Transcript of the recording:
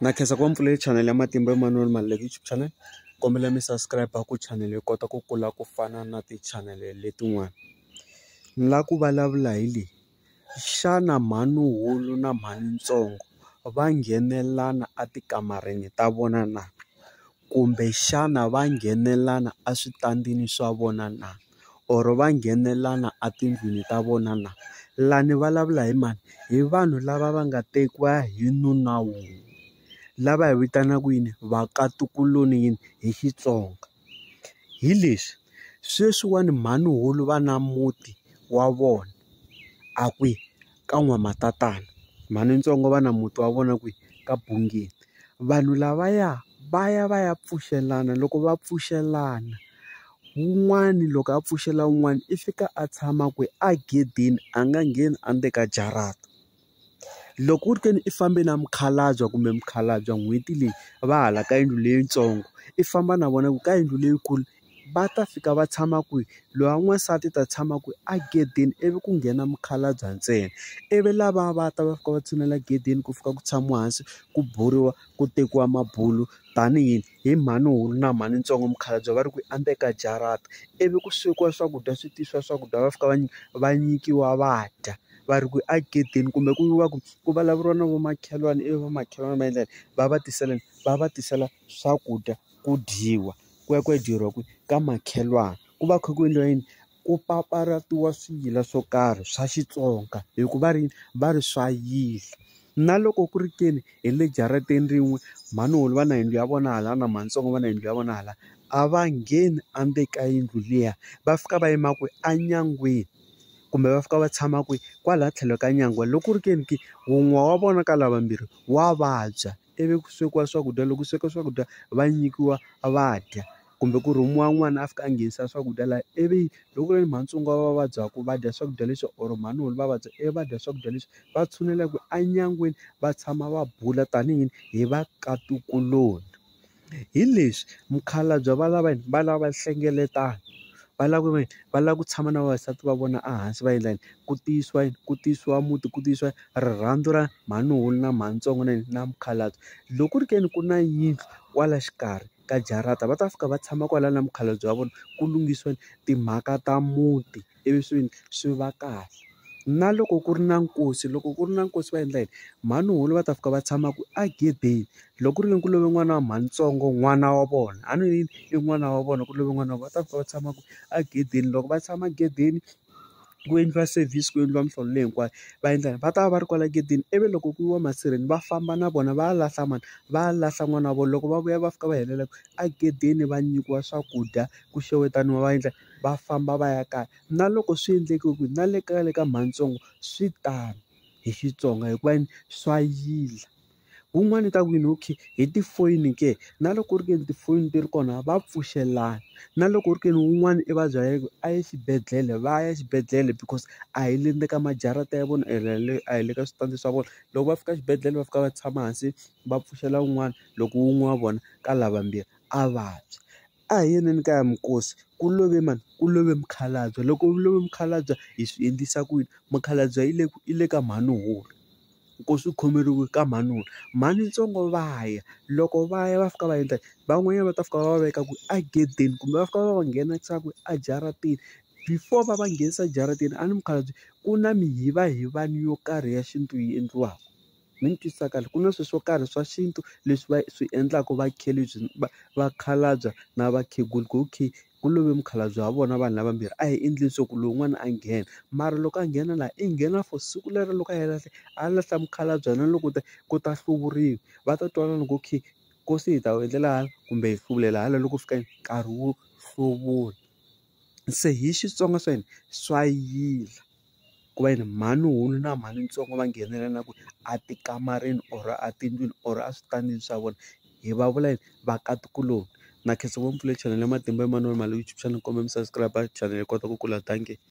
Na khensa ku va mi pfulele chanele ya Matimba Emmanuel Maluleke YouTube channel. Kombela mi subscribe ku chanele yi kota ku kula ku fana na tichanele letin'wana. Ni lava ku vulavula hi leyi, xana mhanuhulu na mhanintsongo va nghenelelana etikamareni ta vona na? Kumbe xana va nghenelana eswitandini swa vona na? Or va nghenelana etindlwini ta vona na? La ni vulavula hi mani? Hi vanhu lava va nga tekiwa hi nuna wun'we, lava hi vitanaka yini? Vakatukulu-ni yini? Hi Xitsonga. Hi leswi, sweswiwani mhani-hulu va na muti wa vona, a kwihi? ka n'wamatatana mhani ntsongo va na muti wa vona kwihi ka bungeni vanhu lavaya va ya va ya pfuxelana loko va pfuxelana wun'wani loko a pfuxela wun'wani i fika a tshama kwihi a gedeni a nga ngheni a ndzeni ka jarata loko u ri ke ni i fambe na mukhalabye kumbe mukhalabye n'hweti leyi va hala ka yindlu leyitsongo i famba na vona ku ka yindlu leyikulu. va ta fika va tshama kwihi? Loyi wa n'wansati u ta tshama kwihi? Egedeni ivi ku nghena mukhalabye ntsena. Ivi lava va ta va fika va tshinela egedeni ku fika ku tshamiwa hansi, ku buriwa, ku tekiwa mabulo tanihi hi mhanuhulu na mhanintsongo. Mukhalabye va ri ku endzeni ka jarata, ivi ku swekiwa swakudya swi tisiwa swakudya va fika va va nyikiwa va dya. Va ri ku egedeni kumbe ku va ku ku vulavuriwa na va makhelwani ivi va makhelwani va endla yini? Va va tisela yini? Va va tisela swakudya ku dyiwa ku ya ku ya dyeriwa kwihi ka makhelwani ku va kha ku endliwa yini ku papalatiwa swiyila swo karhi swa Xitsonga hi ku va ri va ri swa yila na loko ku ri ke ni hi le jarateni rin'we mhani wolo va na yindlu ya vona hala na mhani tsongo va na yindlu ya vona hala a va ngheni a ndzeni ka yindlu liya va fika va yima kwihi enyangweni kumbe va fika va tshama kwihi kwala tlhelo ka nyangwa loko ku ri ke ni ke wun'we wa vona ka lava vambirhi wa vabya. ivi ku swekiwa swakudya loko ku sweka swakudya va nyikiwa va dya kumbe ku rhumiwa n'wana a fika a nghenisa swakudya laha ivi loko ku ri ni matsonga va vabyaka va dya swakudya leswi or mhani va vabya ivi va dya swakudya leswi va tshunelaka enyangweni va tshama va bula tanihi va ka ntukuloni. hi leswi mukhalabye va lava yini va lava nhlengeletano va lava ku ve ni va lava ku tshama na vavasati va vona ehansi va endla yini ku tiyisiwa yini ku tiyisiwa muti ku tiyisiwa rirhandzu ra mhani wun'we na mhani ntsongo na yini na mukhalabye loko ku ri ke ni ku na yindlu kwala xikarhi ka jarata va ta fika va tshama kwala na mukhalabye wa vona ku lunghisiwa timhaka ta muti. ivi swi yini swi va kahle na loko ku ri na nkosi loko ku ri na nkosi va endla yini mhani hulu va ta fika va tshama ku a gedeni loko ku ri ke ni ku love n'wana wa mhani ntsongo n'wana wa vona a ni ri yini i n'wana wa vona ku love n'wana wa vona va ta fika va tshama ku a gedeni loko va tshama gedeni ku endliwa service ku endliwa mihlolo leyi hinkwayo va endla yini va ta va va ri kwala gedeni ivi loko ku yiwa masirheni va famba na vona va ya lahla mani va ya lahla n'wana wa vona loko va vuya va fika va helela a gedeni va nyikiwa swakudya ku xewetana va endla. va famba va ya kaya na loko swi endleke ku na le ka le ka mhani swi tano hi Xitsonga hikuva yini swa yila wun'wani u ta ku yini okay hi tifoyini ke na loko ku ri ke ni tifoni ti ri kona va pfuxelana na loko ku ri ke ni wun'wani i va byele ku a ye xibedhlele va ya xibedhlele because a hi le ndzeni ka majarata ya vona ene le a hi le ka switandi swa vona loko va fika xibedhlele va fika va tshama hansi va pfuxela wun'wana loko wun'we wa vona ka lavambirhi a vabya. A hi yeleni kaya minkosi ku love mani ku love mukhalabye loko ku love mukhalabye hi swi endlisa ku yini mukhalabye i le i le ka mhani hulu nkosi u khomeriwe ka mhani hulu mhani ntsongo va ya loko va ya va fika va endla van'wanyana va ta fika va va veka ku a gedeni kumbe va fika va va nghenisa ku a jaratini before va va nghenisa jaratini a ni mukhalabye ku na mihiva hivani yo karhi ya xintu yi endliwaka. Ni ni twisisa kahle ku na swilo swo karhi swa xintu leswi va swi endlaka va va vakhalabya na vakhegula ku okay ku love mukhalabye wa vona vanhu lavambirhi a hi endleni swa ku lowun'wana a nghena mara loko a nghena laha i nghena for siku lero loko a heta a lahla mukhalabye na loko te ku ta hluvuriwa va ta twanana ku okay nkosi hi ta wu endlela hala kumbe hi hluvulela hala loko ku fika nkarhi wo hluvula se hi Xitsonga swa hina swa yila. ku va yini mhani hulu na mhani ntsongo va nghenelela ku a ti kamarini or a tindlwini or a switandini swa vona hi va vula yini vakatikulu na khensa ngopfu le channel ya matimba ya manana Mali YouTube channel kumbe mi subscribe channel yi kota ku kula dankie.